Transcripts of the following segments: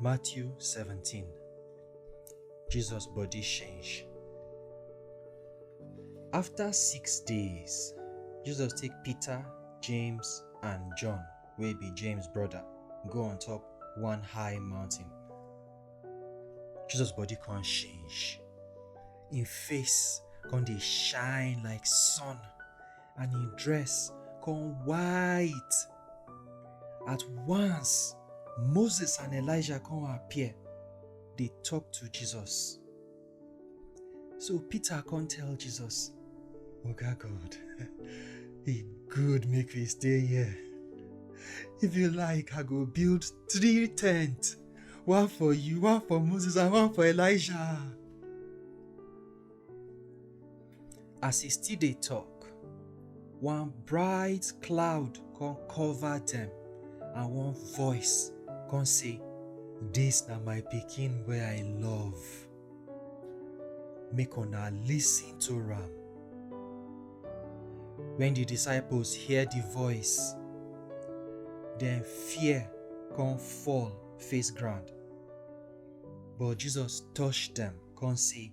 Matthew 17 Jesus body change. After six days, Jesus take Peter, James, and John, wey be James brother, go on top one high mountain. Jesus body come change. Im face come dey shine like sun. and him dress come white. At once, Moses and Elijah come appear, dey talk to Jesus. So Peter come tell Jesus, Oga God, e good make we stay here. If you like, I go build three tents, one for you, one for Moses, and one for Elijah. As e still dey tok, one bright cloud come cover dem and one voice come say, Dis na my pikin wey I love. Make una listen to am. Wen di disciples hear di voice, dem fear come fall face ground. But Jesus touch dem come say,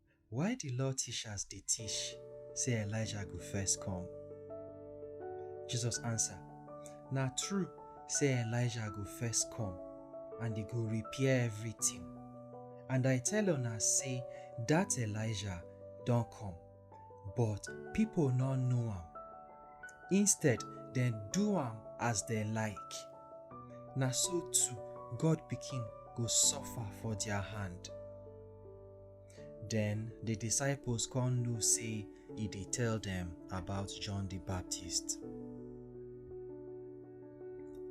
Why di Law tishas dey tish sey Elijah go first kom? Jesus ansa, Na tru sey Elijah go first kom and e go repair evritin. And I tell una sey dat Elijah don kom, but pipo nor know am. Instead, dem do am as dem like. Na so too, God Pikin go sofa for dia hand. Den di disciples kon know sey e dey tell dem about John di Baptist.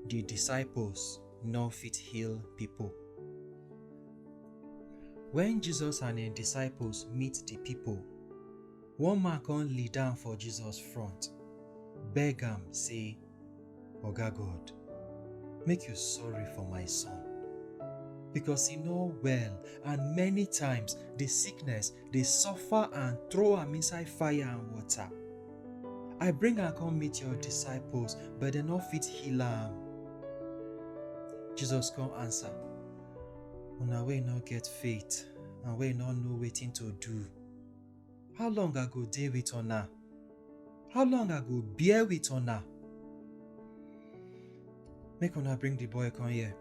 Di disciples nor fit heal pipo. Wen Jesus and en disciples meet di pipo, one man kon lead down for Jesus front, beg am sey, Oga God, make you sorry for my son. Because he know well and many times the sickness dey suffer and throw am inside fire and water. I bring am come meet your disciples, but dem no fit heal am. Jesus come answer, Una wey no get faith and wey no know wetin to do. How long I go dey with una? How long I go bear with una? Make una bring the boy come here.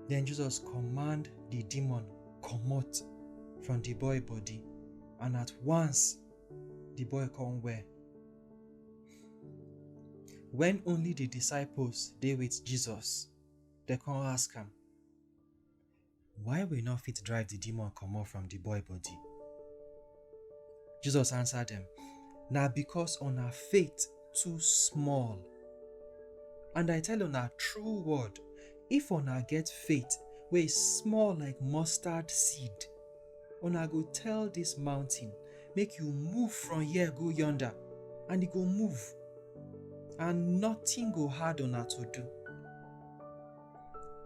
Then Jesus command the demon comot from the boy body, and at once the boy come well. When only the disciples dey with Jesus, they come ask am, Why we no fit drive the demon comot from the boy body? Jesus answer them, Na because una faith too small. And I tell una true word, if una get faith wey small like mustard seed, una go tell this mountain, make you move from here go yonder, and e go move, and nothing go hard una to do.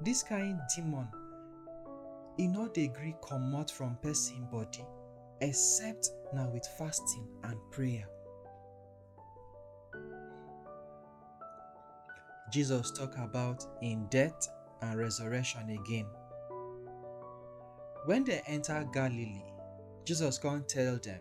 Dis kain demon, e nor dey gree komot from pesin body except na with fasting and prayer. Jesus tok about im death and resurrection again. Wen dem enta Galilee, Jesus kon tell dem.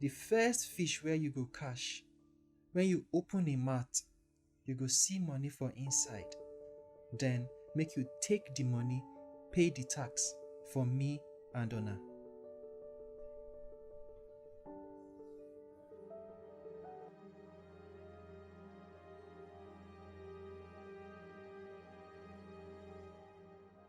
The first fish wey you go catch, when you open im mouth, you go see money for inside. Den make you take di money pay di tax for me and una.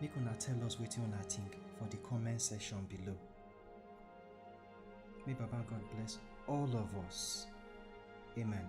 Make una tell us wetin una think for the comment section below. May Baba God bless all of us. Amen.